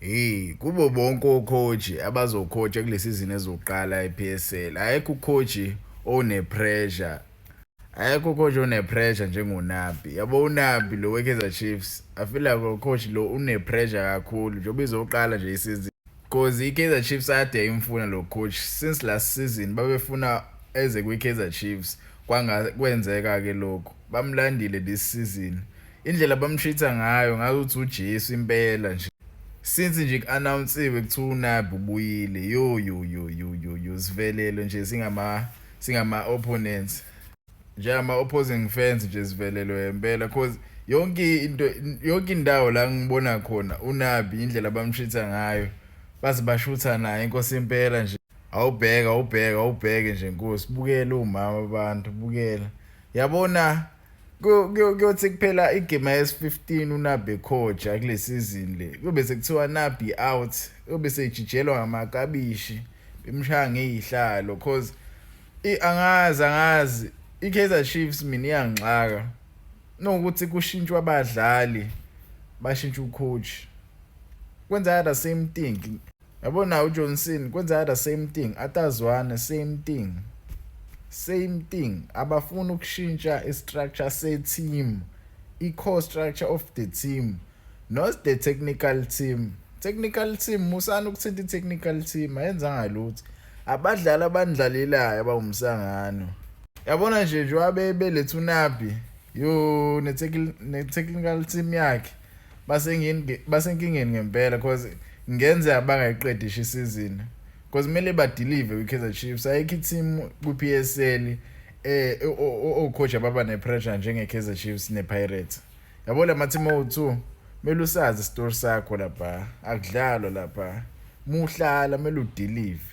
Hey kubo bonke ocoach abazocoacha kule season ezoqala ePSL ayekho ucoach one pressure ayekho coach one pressure njengoNabi yabo uNabi lo weKaizer Chiefs I feel like lo coach lo une pressure kakhulu njengoba izoqala nje isizini because iKaizer Chiefs ade imfuna lo coach since last season babefuna eze kwiKaizer Chiefs kwanga kwenzeka ke lokho bamlandile this season Indlela bamshitha ngayo ngathi uthi uJesu impela nje. Since nje ku-announsiwe kuthiwa uNabi ubuyile yo yo yo yo yo yo sivelele nje singama singama opponents njengama opposing fans nje sivelelwe impela cause yonke into yonke indawo la ngibona khona uNabi indlela bamshitha ngayo baze bashutha naye inkosi impela nje awubheka awubheka awubheke nje nkosi bukela umama abantu bukela yabona kuyothi kuphela igame yesi-15 unabi ekhoja kule sizini le kuyobe sekuthiwa nabi out kuyobe sejijelwa ngamakabishi bemshaya ngeyihlalo cause angazi angazi i-kaizer chiefs mina iyangixaka nokuthi kushintshwa abadlali bashintsha ucoach kwenza the same thing yabo naye ujohnson kwenzeka the same thing atazwane same thing same thing abafuni ukushintsha istructure seteam i-core structure of the team not the technical team technical team musani ukuthinta i-technical team ayenzanga lutho abadlali abandlalelayo abawumsangano yabona nje njengoba beletha unabi yo ne-technical team yakhe basengini basenkingeni ngempela because ngenze abangayiqedisha isizini because kumele badelive kwiKaizer Chiefs ayikho i-team kwi-PSL eh ocoach ababa nepressure njengeKaizer Chiefs nePirates yabo lama-team owu-2 kumele usazi isitori sakho lapha akudlalwa lapha muhlala kumele udelive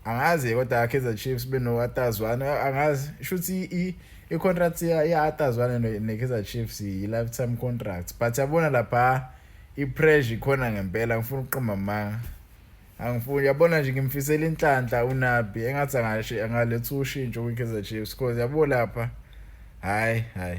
angazi kodwa Kaizer Chiefs benowatazwana angazi shuthi i i-contract yatazwana ne-Kaizer Chiefs yi-lifetime contract but yabona lapha i-pressure ikhona ngempela ngifuna ukuqamba amanga angifuni yabona nje ngimfisela inhlanhla unabi engathi angashe angaletha ushintsho kwi-Kaizer Chiefs because yabo lapha hayi hayi